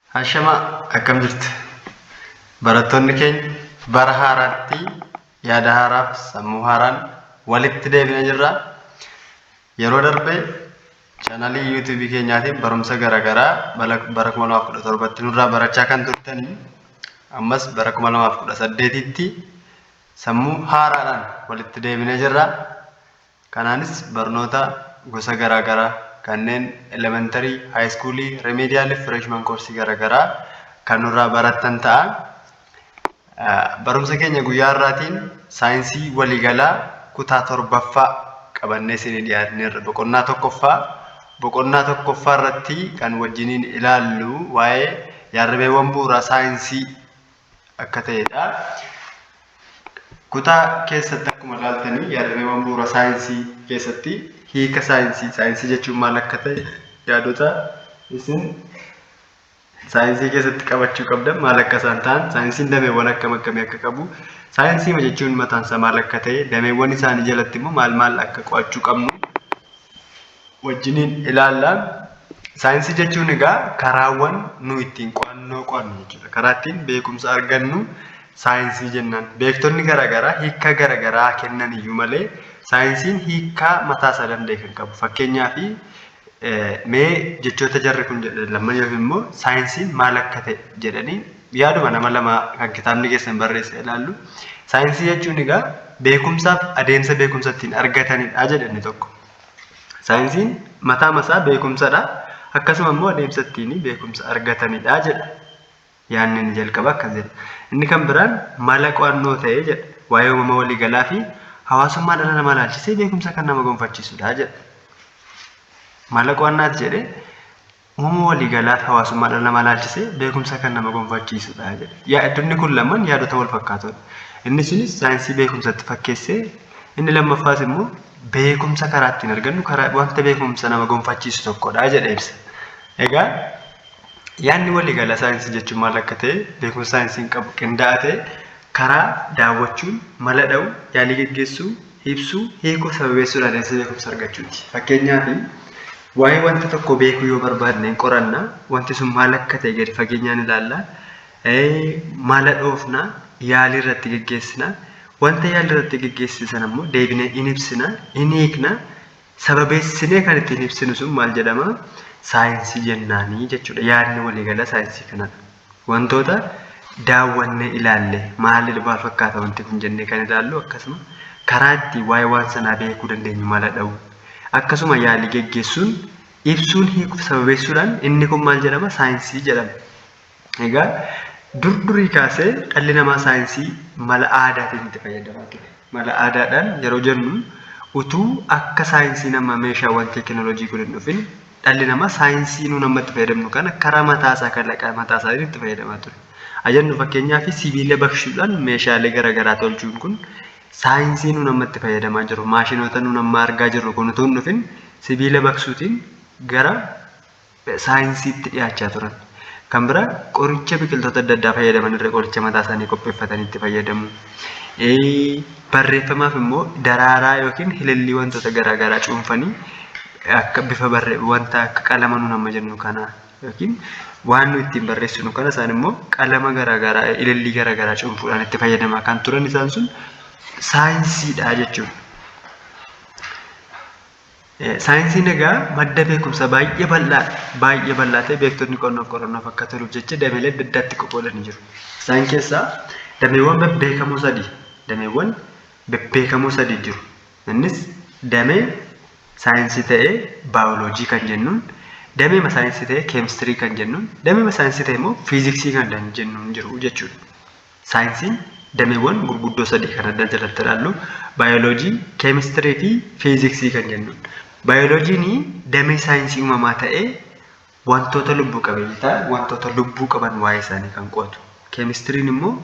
Ashama akkam jirtu barattoonni keenya bara haaraatti yaada haaraaf sammuu haaraan walitti deebina jirra. Yeroo darbe chanalii yuutuubii keenyaatiin barumsa garaagaraa bara 2017tti nurraa barachaa kan turtanii ammas bara 2018tti sammuu haaraadhaan walitti deebina jirra. Kanaanis barnoota gosa garaa garaa kanneen elementary, high school, remedial fi freshman course gara garaa kan nurraa barattan ta'a. Barumsa keenya guyyaa har'aatiin saayinsii waliigalaa kutaa torbaffaa qabannee isinii dhiyaanneerra. Boqonnaa tokkoffaa boqonnaa tokkoffaa irratti kan wajjiniin ilaallu waa'ee yaadrimeewwan bu'uuraa saayinsii akka ta'edha. Kutaa keessatti akkuma ilaaltanii yaadrimeewwan bu'uura saayinsii keessatti hiika saayinsii saayinsii jechuun maal akka ta'e yaadota isin saayinsii keessatti qabachuu qabdan maal akka isaan ta'an saayinsiin dameewwan akkam akkamii akka qabu saayinsii jechuun mataansa maal akka ta'e dameewwan isaanii jalatti immoo maal maal akka qo'achuu qabnu wajjiniin ilaalla. Saayinsii jechuun egaa karaawwan nu ittiin qo'annoo qo'annu jechuudha. Karaa ittiin beekumsa argannu saayinsii jennaan. Beektonni garaagaraa hiika garaagaraa kennan iyyuu malee saayinsiin hiikaa mataa isaa danda'e kan qabu. Fakkeenyaaf mee jechoota jarri kun jedhan lamman yookiin immoo saayinsiin maal akka ta'e jedhanii yaaduma nama lamaa kan kitaabni keessan barreesse ilaallu. Saayinsii jechuun egaa beekumsaaf adeemsa beekumsa ittiin argatanidha jedhe inni tokko. Saayinsiin mataa masaa beekumsadha. Akkasuma immoo adeemsa ittiin beekumsa argatanidha jedha. Yaadni inni jalqaba akkas jedha. Inni kan biraan mala qo'annoo ta'ee jedha. Waa'ee uumama waliigalaa fi hawaasummaa dhala namaa ilaalchisee beekumsa kan nama gonfachiisudha jedha. Mala qo'annaati jedhee Uumama waliigalaa hawaasummaa dhala namaa ilaalchisee beekumsa kan nama gonfachiisudha jedhe. Yaadonni kun lamaan yaadota wal fakkaatoodha. Inni sunis saayinsii beekumsatti fakkeessee inni lammaffaas immoo beekumsa karaa ittiin argannu karaa wanta beekumsa nama gonfachiisu tokkodha jedhe ibsa. Egaa yaadni waliigalaa saayinsii jechuun maal akka ta'e beekumsa saayinsiin qabu qindaa'aa ta'e karaa daawwachuun mala dha'u yaalii geggeessuu ibsuu hiikuu sababeessuudhaan adeemsa beekumsa argachuuti. Fakkeenyaaf Waa'ee wanta tokkoo beekuu yoo barbaadne hin qoranna, wanti sun maal akka ta'e gadi fageenyaan ilaalla, mala dhoofna, yaalii irratti geggeessina, wanta yaalii irratti geggeessine sana immoo deebinee in ibsina, in hiikna, sababeessinee kan ittiin ibsinu sun maal jedhama? Saayinsii jennaanii jechuudha. Yaadni waliigalaa saayinsii kanadha. Wantoota daawwannee ilaalle maalli dhufaa fakkaata wanti kun jennee kan ilaallu akkasuma karaa itti waa'ee waan sanaa beekuu dandeenyu mala dha'u akkasuma yaalii geggeessuun ibsuun hiikuuf sababeessuudhaan inni kun maal jedhama saayinsii jedhama. Egaa dur durii kaasee dhalli namaa saayinsii mala aadaatiin itti fayyadamaa ture. Mala aadaadhaan yeroo jennu utuu akka saayinsiin ammaa meeshaawwan teekinooloojii kun hin dhufin dhalli namaa saayinsii nuun amma itti fayyadamnu kana karaa mataa isaa kalaqa mataa isaatiin itti fayyadamaa ture. Ajannu fakkeenyaaf sibiila baqshuudhaan meeshaalee garaagaraa tolchuun kun saayinsii nuun amma itti fayyadamaa jiru maashinoota nuun amma argaa jirru kun utuu hin dhufin sibiila baqsuutiin gara saayinsiitti dhiyaachaa turan. Kan biraa qoricha biqiltoota adda addaa fayyadaman irra qoricha mataa isaanii qopheeffatanii itti fayyadamu. Barreeffamaaf immoo daraaraa yookiin hilillii wantoota garaa garaa cuunfanii akka bifa barree wanta akka qalama nuun amma jennu kana yookiin waan nu ittiin barreessinu kana isaan immoo qalama garaa garaa ilillii garaa garaa cuunfuudhaan itti fayyadamaa kan turan isaan sun saayinsiidha jechuudha. Saayinsiin egaa madda beekumsa baay'ee bal'aa baay'ee bal'aa ta'e beektonni qonnoof qorannoof akka toluuf jecha dameelee adda addaatti qoqqoodanii jiru. Isaan keessaa dameewwan bebbeekamoo sadii dameewwan bebbeekamoo sadii jiru. Innis damee saayinsii ta'ee baayoloojii kan jennuun dameema saayinsii ta'ee keemistirii kan jennuun dameema saayinsii ta'e immoo fiiziksii kan jennuun jiru jechuudha. Saayinsiin dameewwan gurguddoo sadii kan adda jalatti ilaallu baayoloojii, keemistirii fi fiiziksii kan jennuun. Baayoloojiin damee saayinsii uumamaa ta'ee wantoota lubbu qabeeyyii ta'an wantoota lubbuu qaban waa'ee isaanii kan qo'atu. Keemistiriin immoo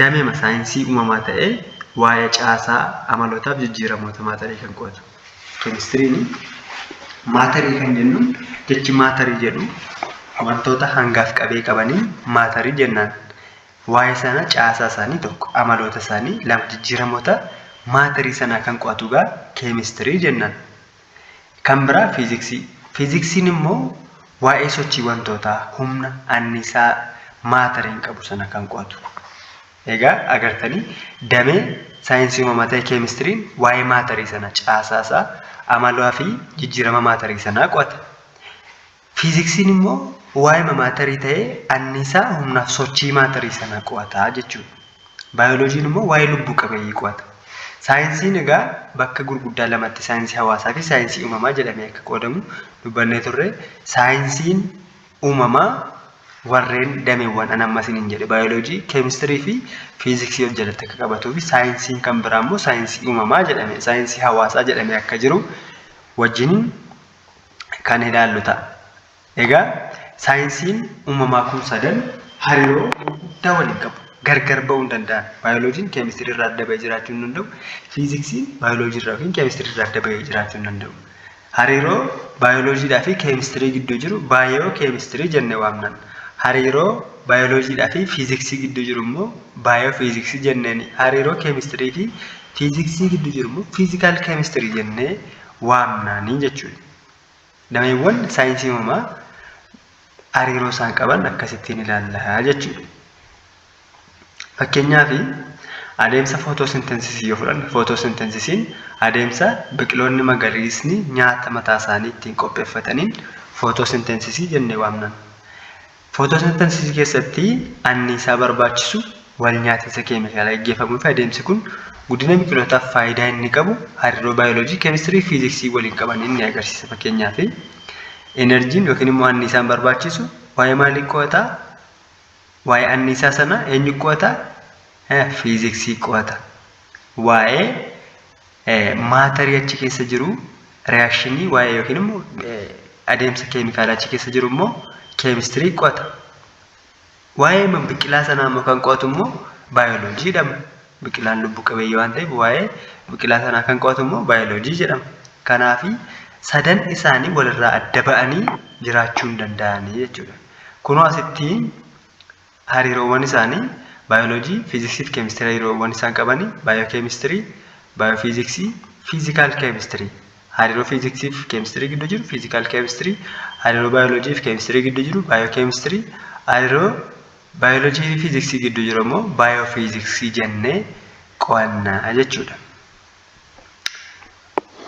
dameema saayinsii uumamaa ta'ee waa'ee caasaa amalootaaf jijjiiramoota maatarii kan qo'atu. Keemistiriin maatarii kan jennuun jechi maatarii jedhu wantoota hangaaf qabee qabanii maatarii jennaan. Waa'ee sana caasaa isaanii tokko amaloota isaanii lama jijjiiramoota maatarii sanaa kan qo'atu egaa keemistirii jennaan. Kan biraa fiiziksii. Fiiziksiin immoo waa'ee sochii wantootaa humna annisaa maatariin qabu sana kan qo'atu. Egaa agartanii damee saayinsii uumamaa ta'e keemistiriin waa'ee maatarii sana caasaasaa, amalaa fi jijjiirama maatarii sanaa qo'ata. Fiiziksiin immoo waa'ima maatarii ta'ee anniisaa humnaaf sochii maatarii sanaa qo'ata jechuudha. Baayoloojiin immoo waa'ee lubbuu qabeeyyii qo'ata. Saayinsiin egaa bakka gurguddaa lamatti saayinsii hawaasaa fi saayinsii uumamaa jedhamee akka qoodamu dubbannee turre. Saayinsiin uumamaa warreen dameewwan an amma isiniin jedhe baayoloojii, keemistirii fi fiiziksii of jalatti akka qabatuu fi saayinsiin kan biraa immoo saayinsii uumamaa jedhame saayinsii hawaasaa jedhamee akka jiru wajjin kan ilaallu ta'a. Egaa saayinsiin uumamaa kun sadan hariiroo guddaa waliin qabu. Gargar ba'uu hin danda'an. Baayoloojiin keemistirii irraa adda ba'ee jiraachuu hin danda'u. Fiiziksiin baayoloojii irraa yookiin keemistirii irraa adda ba'ee jiraachuu hin danda'u. Hariiroo baayoloojiidhaa fi keemistirii gidduu jiru baayoo keemistirii jenne waamnan. Hariiroo baayoloojiidhaa fi fiiziksii gidduu jiru immoo baayoo fiiziksii jenneeni. Hariiroo keemistirii fi fiiziksii gidduu jiru immoo fiizikaal keemistirii jennee waamnaanii jechuudha. Dameewwan saayinsii uumamaa hariiroo isaan qaban akkasittiin ilaalla jechuudha. Fakkeenyaaf adeemsa footoosinteensisii yoo fudhanne footoosinteensisiin adeemsa biqiloonni magariisni nyaata mataa isaanii ittiin qopheeffataniin footoosinteensisii jennee waamna. Footoosinteensisii keessatti anniisaa barbaachisu wal nyaatinsa keemikaalaa gaggeeffamuu fi adeemsi kun guddina biqilootaaf faayidaa inni qabu hariiroo baayoloojii, keemistirii fi fiiziksii waliin qaban inni agarsiisa. Fakkeenyaaf enerjiin yookiin immoo anniisaan barbaachisu waa'ee maalii qo'ataa? Waa'ee anniisaa sana eenyu qo'ata? Fiiziksii qo'ata. Waa'ee maatarii achi keessa jiru reakshinii waa'ee yookiin immoo adeemsa keemikaalaa achi keessa jiru immoo keemistirii qo'ata. Waa'ee biqilaa sanaa immoo kan qo'atu immoo baayoloojii jedhama. Biqilaan lubbu qabeeyyii waan ta'eef waa'ee biqilaa sanaa kan qo'atu immoo baayoloojii jedhama. Kanaafi sadan isaanii walirraa adda ba'anii jiraachuu hin danda'anii jechuudha. Kunoo asitti hariiroowwan isaanii baayoloojii, fiiziksii fi keemistirii hariiroowwan isaan qabanii baayookeemistirii, baayoofiiziksii, fiizikaal keemistirii hariiroo fiiziksii fi keemistirii gidduu jiru fiizikaal keemistirii, hariiroo baayoloojii fi keemistirii gidduu jiru baayookeemistirii, hariiroo baayoloojii fi fiiziksii gidduu jiru immoo baayoofiiziksii jennee qo'anna jechuudha.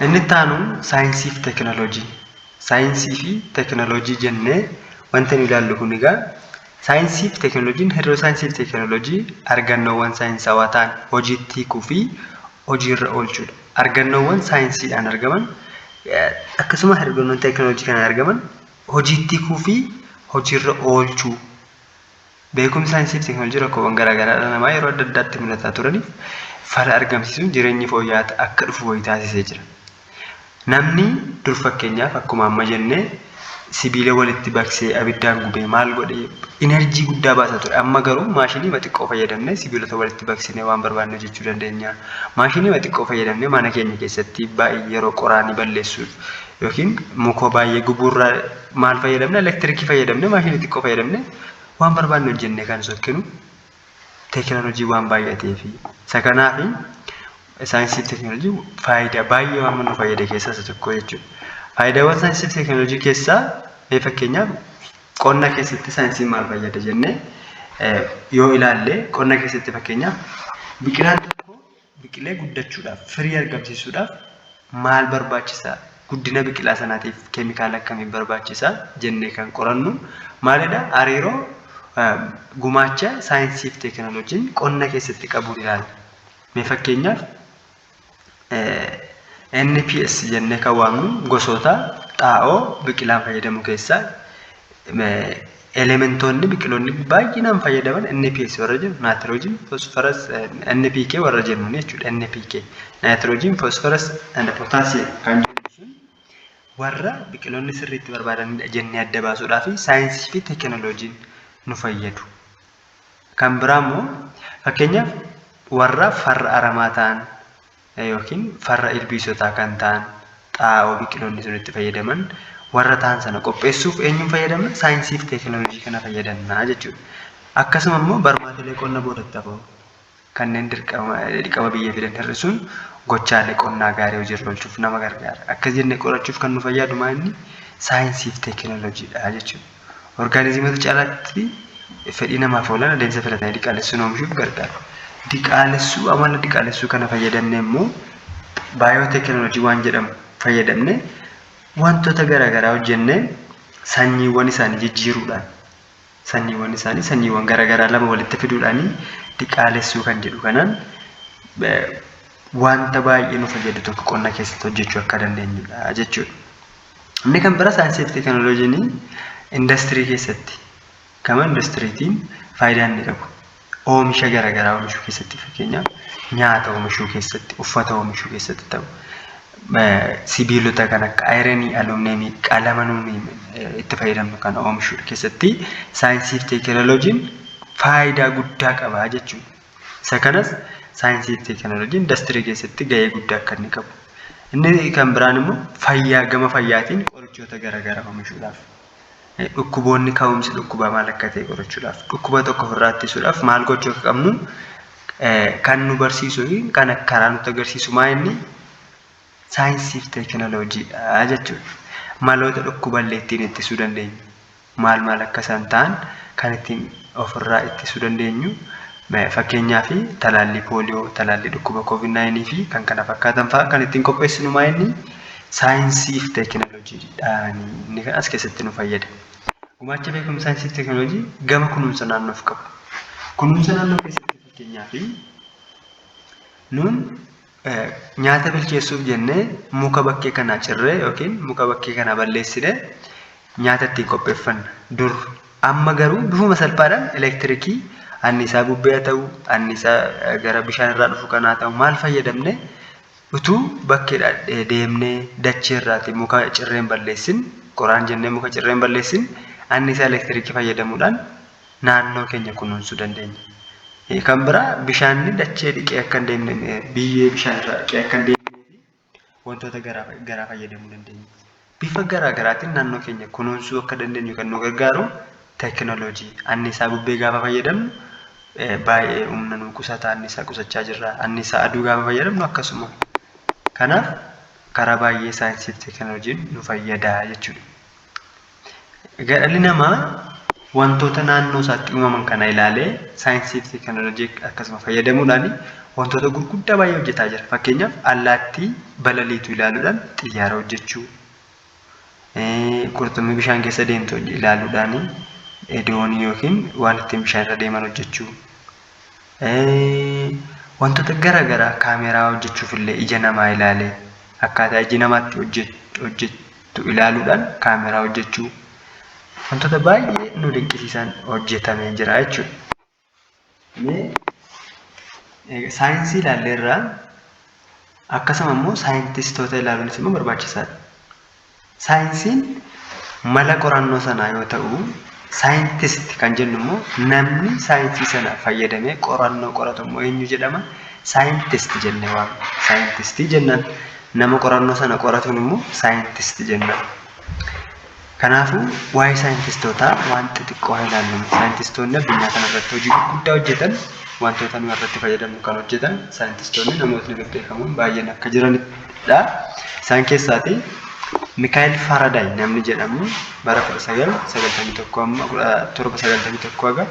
Inni itti aanu saayinsii fi teekinooloojii. Saayinsii fi teekinooloojii jennee wanta nu ilaallu kun egaa saayinsii fi teekinooloojiin hariiroo saayinsii fi teekinooloojii argannoowwan saayinsawaa ta'an hojiitti hiikuu fi hojiirra oolchuudha. Argannoowwan saayinsiidhaan argaman akkasuma argannoowwan teekinooloojii kanaan argaman hojiitti hiikuu fi hojiirra oolchuu. Beekumsi saayinsii fi teknolojii rakkoowwan garaa garaa dhala namaa yeroo adda addaatti mudataa turaniif fala argamsiisuun jireenyi fooyya'aa akka dhufu wayi taasisee jira. Namni dur fakkeenyaaf akkuma amma jenne sibiila walitti baqsee abiddaan gubee maal godhee enerjii guddaa baasa ture. Amma garuu maashiniima xiqqoo fayyadamnee sibiilota walitti baqsinee waan barbaanne hojjechuu dandeenya. Maashiniima xiqqoo fayyadamnee mana keenya keessatti baay'ee yeroo qoraanii balleessuuf yookiin mukoo baay'ee gubuurraa maal fayyadamne elektirikii fayyadamne maashinii xiqqoo fayyadamne waan barbaanne hojjenne kan sokkinu teekinooloojii waan baay'atee fi isa kanaa fi saayinsii fi teekinooloojii faayidaa baay'ee waan nu fayyade keessaa isa tokko jechuudha. Faayidaawwan saayinsii fi teekinooloojii keessaa mee fakkeenyaaf qonna keessatti saayinsiin maal fayyada jennee yoo ilaalle qonna keessatti fakkeenyaaf biqilaan biqilee guddachuudhaaf, firii argamsiisuudhaaf maal barbaachisa? Guddina biqilaa sanaatiif keemikaala akkamii barbaachisa? jennee kan qorannu maalidha? Hariiroo gumaacha saayinsii fi teekinooloojiin qonna keessatti qabuun ilaalla. Mee fakkeenyaaf NPS jennee kan waamnu gosoota xaa'oo biqilaan fayyadamu keessaa Elementoonni biqiloonni baay'inaan fayyadaman NPS warra jennu naatiroojiin foosfaras NPK warra jennuun jechuudha NPK naatiroojiin foosfaras and potaasiyeem kan jennu sun warra biqiloonni sirriitti barbaadanidha jennee adda baasuudhaa fi saayinsii fi teekinooloojiin nu fayyadu. Kan biraa immoo fakkeenyaaf warra farra aramaa ta'an ykn farra ilbiisotaa kan ta'an xaa'oo biqiloonni sun itti fayyadaman warra ta'an sana qopheessuuf eenyuun fayyadamna? Saayinsii fi teekinooloojii kana fayyadamna jechuudha. Akkasuma immoo barmaatilee qonna boodatti hafoo kanneen dirqama dirqama biyya fidan hir'isuun gochaalee qonnaa gaarii hojiirra oolchuuf nama gargaara. Akkas jennee qorachuuf kan nu fayyadu maa inni? Saayinsii fi teekinooloojiidha jechuudha. Orgaanizimoota caalaatti fedhii namaaf oolan adeemsa filatanii diqaalessuun oomishuuf gargaara. Diqaalessuu amala diqaalessuu kana fayyadamne immoo baayooteekinooloojii waan jedhamu fayyadamne wantoota garaagaraa hojjennee sanyiiwwan isaanii jijjiiruudhaan sanyiiwwan isaanii sanyiiwwan garaagaraa lama walitti fiduudhaanii diqaalessuu kan jedhu kanaan wanta baay'ee nu fayyadu tokko qonna keessatti hojjechuu akka dandeenyudha jechuudha. Inni kan bira saayinsii fi teekinooloojiin indastirii keessatti gama indastiriitiin faayidaa inni qabu oomisha garaagaraa oomishuu keessatti fakkeenyaaf nyaata oomishuu keessatti uffata oomishuu keessatti ta'u sibiilota kan akka ayiranii alumineemii qalama nuuni itti fayyadamnu kan oomishuu keessatti saayinsii fi teekinooloojiin faayidaa guddaa qaba jechuudha. Isa kanas saayinsii fi teekinooloojii indastirii keessatti gahee guddaa akka inni qabu. Inni kan biraan immoo fayyaa gama fayyaatiin qorichoota garaagaraa oomishuudhaaf dhukkuboonni ka'umsi dhukkubaa maal akka ta'e qorachuudhaaf dhukkuba tokko ofirraa ittisuudhaaf maal gochuu akka qabnu kan nu barsiisuu fi kan karaa nutti agarsiisu maa inni saayinsii fi teekinooloojiidha jechuudha. Maloota dhukkuballee ittiin ittisuu dandeenyu. maal maal akka isaan ta'an kan ittiin ofirraa ittisuu dandeenyu fakkeenyaaf talaallii pooliyoo, talaallii dhukkuba covid 9 fi kan kana fakkaatan fa'aa kan ittiin qopheessinu maa inni saayinsii fi teekinooloojiidhaan inni kan as keessatti nu fayyada. Gumaacha beekumsa saayinsii fi teekinooloojii gama kunuunsa naannoof qabu. Kunuunsa naannoo keessatti fakkeenyaaf nuun Nyaata bilcheessuuf jennee muka bakkee kanaa cirree yookiin muka bakkee kanaa balleessine nyaata ittiin qopheeffanna dur. Amma garuu bifuma salphaadhaan elektirikii anniisaa bubbee haa ta'u, anniisaa gara bishaan irraa dhufu kanaa ta'u maal fayyadamne utuu bakkeedha deemnee dachee irraati muka cirreen balleessin qoraan jennee muka cirreen balleessin anniisaa elektirikii fayyadamuudhaan naannoo keenya kunuunsuu dandeenya. Eh, Kan biraa bishaanni dachee dhiqee akka hin deemne, eh, biyyee bishaan irraa dhiqee akka hin deemne fi wantoota garaa garaa fayyadamuu dandeenya. Bifa garaa garaatiin naannoo keenya kunuunsuu akka dandeenyu kan nu gargaaru teekinooloojii. Anniisaa bubbee gaafa fayyadamnu eh, baay'ee humna nu qusata, anniisaa qusachaa jirra. Anniisaa aduu gaafa fayyadamnu akkasuma. Kanaaf karaa baay'ee saayinsii fi teekinooloojiin nu fayyada jechuudha. Egaa dhalli namaa wantoota naannoo isaatti uumaman kana ilaalee saayinsii fi teekinooloojii akkasuma fayyadamuudhaan wantoota gurguddaa baay'ee hojjetaa jira. Fakkeenyaaf allaattii balaliitu ilaaluudhaan xiyyaara hojjechuu, qurxummii bishaan keessa deemtu ilaaluudhaan doonii yookiin waan ittiin bishaan irra deeman hojjechuu. Wantoota gara garaa kaameeraa hojjechuuf illee ija namaa ilaalee akkaataa iji namaa itti hojjetu ilaaluudhaan kaameeraa hojjechuu wantoota baay'ee nu dinqisiisan hojjetamee jira jechuudha. Saayinsii ilaalleerra akkasuma immoo saayintistoota ilaaluunis immoo barbaachisaadha. Saayinsiin mala qorannoo sanaa yoo ta'u, scientist kan jennu immoo namni saayinsii sana fayyadamee qorannoo qoratu immoo eenyu jedhama? Saayintist jennee waamna. Saayintistii jennaan. Nama qorannoo sana qoratuun immoo saayintist jennaan. Kanaafuu waa'ee saayintistootaa waan xixiqqoo haa ilaallu. Saayintistoonni addunyaa kanarratti hojii gurguddaa hojjetan wantoota nuyi irratti fayyadamnu kan hojjetan saayintistoonni namootni bebbeekamoon baay'een akka jiran dha. Isaan keessaati Mikaa'el Faaradaay namni jedhamu bara 1991 amma 1791 haga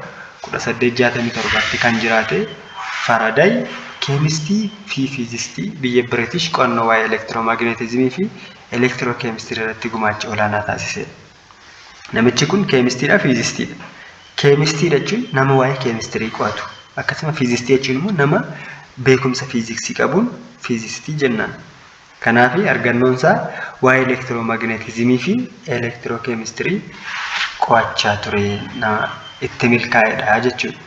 1867tti kan jiraate Faaradaay keemistii fi fiizistii biyya Biritish qo'annoo waa'ee elektiroomaagneetizimii fi elektirookeemistirii irratti gumaacha olaanaa taasiseedha. Namichi kun keemistiidha fiizistiidha. Keemistiidha jechuun nama waa'ee keemistirii qo'atu. Akkasuma fiizistii jechuun immoo nama beekumsa fiiziksii qabuun fiizistii jennaan. Kanaaf argannoon isaa waa'ee elektiroomaagneetizimii fi elektirookeemistirii qo'achaa ture nama itti milkaa'edha jechuudha.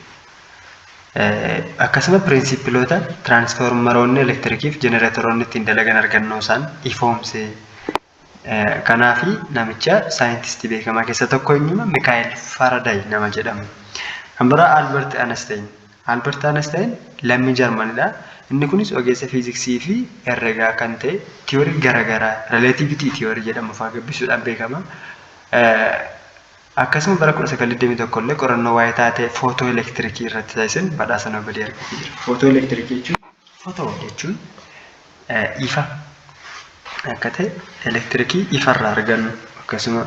Akkasuma pirinsippiloota tiraansfoormaroonni elektirikiif jenereetoroonni ittiin dalagan argannoo isaan ifoomsee Kanaaf namicha saayintistii beekamaa keessa tokko eenyuma Mikaa'el Faaraday nama jedhamu. Kan biraa Albert Einstein. Albert Einstein lammii Jarmanidha. Inni kunis ogeessa fiiziksii fi herregaa kan ta'e tiyoorii garaagaraa relativity tiyoorii jedhamu fa'aa gabbisuudhaan beekama. Akkasuma bara 1921 illee qorannoo waa'ee taatee footoo elektirikii irratti taasiseen badhaasa Noobeelii argatee jira. Footoo elektirikii jechuun footoo jechuun ifa akka ta'e elektirikii ifa irraa argannu akkasuma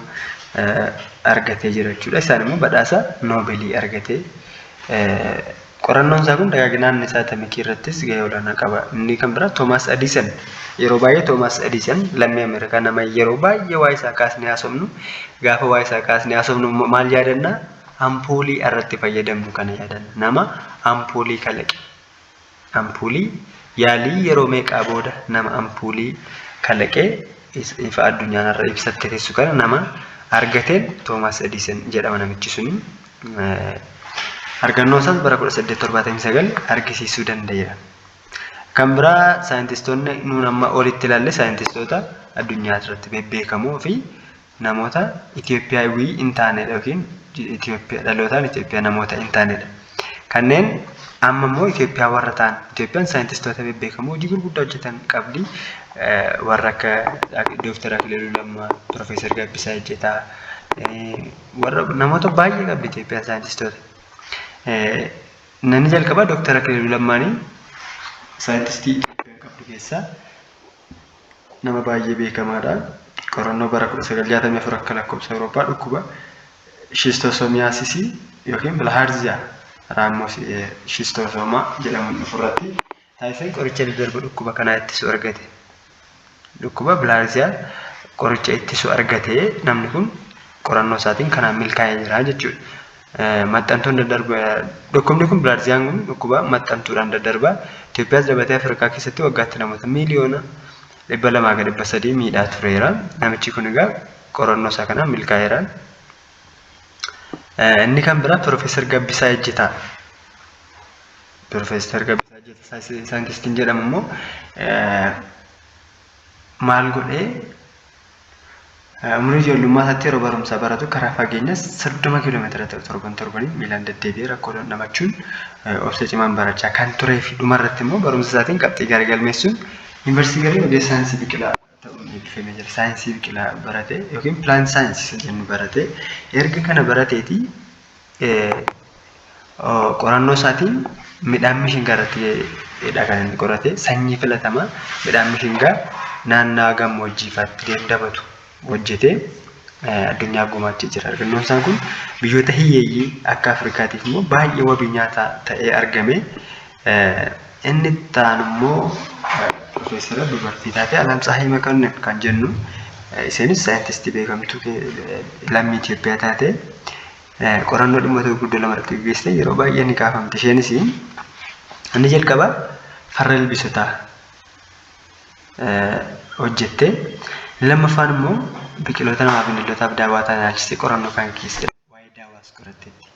argatee jira jechuudha. Isaan immoo badhaasa noobelii argatee qorannoon isaa kun dagaagina anniisaa atamikii irrattis gahee olaanaa qaba. Inni kan biraa Toomaas Adiisan yeroo baay'ee Toomaas Adiisan lammii Ameerikaa nama yeroo baay'ee waa'ee isaa kaasnee haasofnu gaafa waa'ee isaa kaasnee haasofnu maal yaadanna ampoolii irratti fayyadamnu kana yaadanna nama ampoolii kalaqe. Ampuulii, Yaalii yeroo meeqaa booda nama ampuulii kalaqee ifa addunyaa narra ibsatte teessu kana nama argateen Toomaas Ediisen jedhama namichi suni. Argannoo isaas bara 1879 argisiisuu danda'eera. Kan biraa saayintistoonni nuun amma olitti ilaalle saayintistoota addunyaa irratti bebbeekamoo fi namoota Itiyoophiyaawwii hin taane yookiin Itiyoophiyaa dhalootaan Itiyoophiyaa namoota hin taanedha. Kanneen amma immoo Itiyoophiyaa warra ta'an Itiyoophiyaan saayintistoota bebbeekamoo hojii gurguddaa hojjetan qabdi. Warra akka Dooktar Akililuu Lammaa, Piroofeesar Gabbisaa Ejjetaa warra namoota baay'ee qabdi Itiyoophiyaan saayintistoota. Namni jalqabaa Dooktar Akililuu Lammaanii saayintistii Itiyoophiyaan qabdu keessaa nama baay'ee beekamaadha. Qorannoo bara 1964 akka lakkoofsa Awurooppaa dhukkuba shiistoosomiyaasisii yookiin bilhaarziyaa raammoos shiistoosoomaa jedhamuun dhufu irratti taasiseen qoricha daddarba dhukkuba kanaa ittisu argate. Dhukkuba bilhaarziyaa qoricha ittisu argatee namni kun qorannoo isaatiin kanaan milkaa'ee jira jechuudha. maxxantuun daddarba dhukkubni kun bilaarziyaan kun dhukkuba maxxantuudhaan daddarba Itoophiyaas dabatee Afrikaa keessatti waggaatti namoota miiliyoona dhibba lamaa ga dhibba sadii miidhaa tureera namichi kun egaa qorannoo isaa kanaan milkaa'eera. Inni kan biraa Piroofeesar Gabbisaa Ejjetaa. Piroofeesar Gabbisaa Ejjetaa saayintistiin jedhamu immoo maal godhee Umurii ijoollummaa isaatti yeroo barumsa baratu karaa fageenya 30 kiiloomeetira ta'u torban torbaniin miilaan deddeebi'ee rakkoo dandamachuun obsa cimaan barachaa kan turee fi dhuma irratti immoo barumsa isaatiin qabxii gaarii galmeessuun yuunivarsiitii galee ogeessa saayinsii biqilaa ta'uun eebbifamee jira. Saayinsii biqilaa baratee yookiin pilaant saayinsii isa jennu baratee erga kana barateeti qorannoo isaatiin midhaan mishingaa irratti kan inni qorate sanyii filatamaa midhaan mishingaa naannaa gammoojjii faatti dandamatu hojjetee addunyaa gumaachee jira. Argannoon isaa kun biyyoota hiyyeeyyii akka Afrikaatiif immoo baay'ee wabii nyaataa ta'ee argame. Inni itti aanu immoo piroofeesara dubartii taate Alam Tsahay Makonnin kan jennu isheenis saayintistii beekamtuu lammii Itoophiyaa taate qorannoo dhimmoota gurguddoo lama irratti gaggeessite yeroo baay'ee ni kaafamti. Isheenis inni jalqabaa farra ilbiisotaa hojjette. Inni lammaffaan immoo biqiloota namaa fi bineeldotaaf daawaa ta'an ilaalchisee qorannoo kan gaggeessite waa'ee daawaas qoratteetti.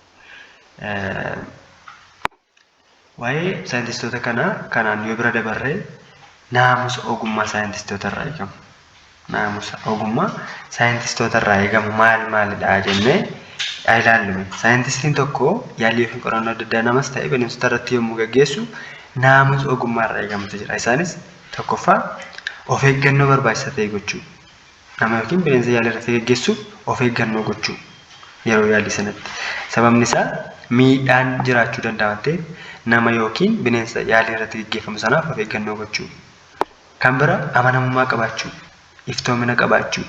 Waa'ee saayintistoota kanaa kanaan yoo bira dabarre naamusa ogummaa saayintistoota irraa eegamu. Naamusa ogummaa saayintistoota irraa eegamu maal maalidha jennee haa ilaallu. Saayintistiin tokko yaalii yookiin qorannoo adda addaa namas ta'e bineensota irratti yommuu gaggeessu naamusa ogummaa irraa eegamutu jira. Isaanis tokkoffaa of eeggannoo barbaachisaa ta'e gochuu. Nama ykn bineensa yaalii irratti geggeessuuf of eeggannoo gochuu yeroo yaalii sanatti. Sababni isaa miidhaan jiraachuu danda'a waan ta'eef nama ykn bineensa yaalii irratti geggeeffamu sanaaf of eeggannoo gochuu. Kan bira amanamummaa qabaachuu, iftoomina qabaachuu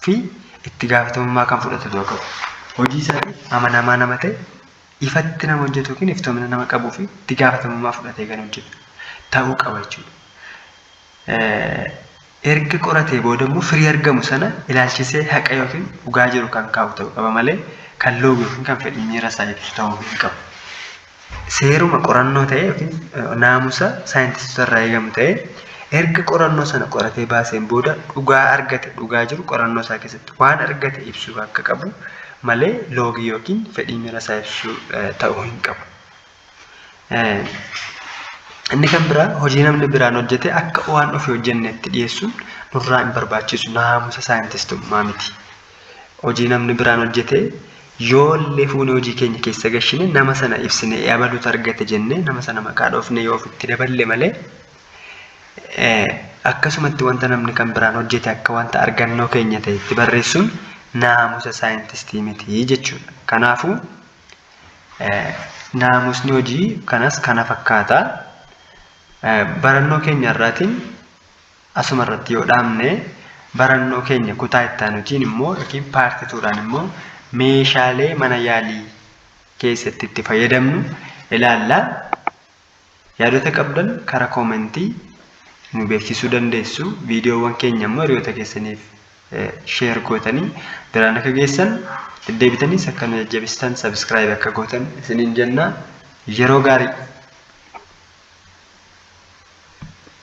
fi itti gaafatamummaa kan fudhatu ta'uu qaba. Hojii isaatiif amanamaa nama ta'e, ifatti nama hojjetu ykn iftoomina nama qabuu fi itti gaafatamummaa fudhatee kan hojjetu ta'uu qaba jechuudha. erga qoratee booda immoo firii argamu sana ilaalchisee haqa yookiin dhugaa jiru kan kaa'u ta'uu qaba malee kan loogu yookiin kan fedhii miira isaa ibsu ta'uu hin qabu. Seeruma qorannoo ta'e yookiin naamusa saayintistoota irraa eegamu ta'e erga qorannoo sana qoratee baaseen booda dhugaa argate dhugaa jiru qorannoo isaa keessatti waan argate ibsuu akka qabu malee loogii yookiin fedhii miira isaa ibsuu ta'uu hin qabu. Inni kan biraa hojii namni biraan hojjete akka waan ofii hojjennetti dhiyeessuun nurraa hin barbaachisu naamusa saayintistummaa miti. Hojii namni biraan hojjete yoollee fuunee hojii keenya keessa gashine nama sana ibsine abalutu argate jennee nama sana maqaa dhoofne yoo ofitti daballe malee akkasumatti wanta namni kan biraan hojjete akka wanta argannoo keenya ta'etti barreessuun naamusa saayintistii miti jechuudha. Kanaafuu Naamusni hojii kanas kana fakkaata. Barannoo keenya irraatiin asuma irratti yoo dhaabne barannoo keenya kutaa itti aanutiin immoo yookiin paartii tuudhaan immoo meeshaalee mana yaalii keessatti itti fayyadamnu ilaalla. Yaadota qabdan kara koomentii nu beeksisuu dandeessu. Viidiyoowwan keenya immoo hiriyoota keessaniif sheer gootanii biraan akka geessan deddeebitaniis akka nu jajjabistan sabiskiraayib akka gootan isiniin jenna. Yeroo gaarii!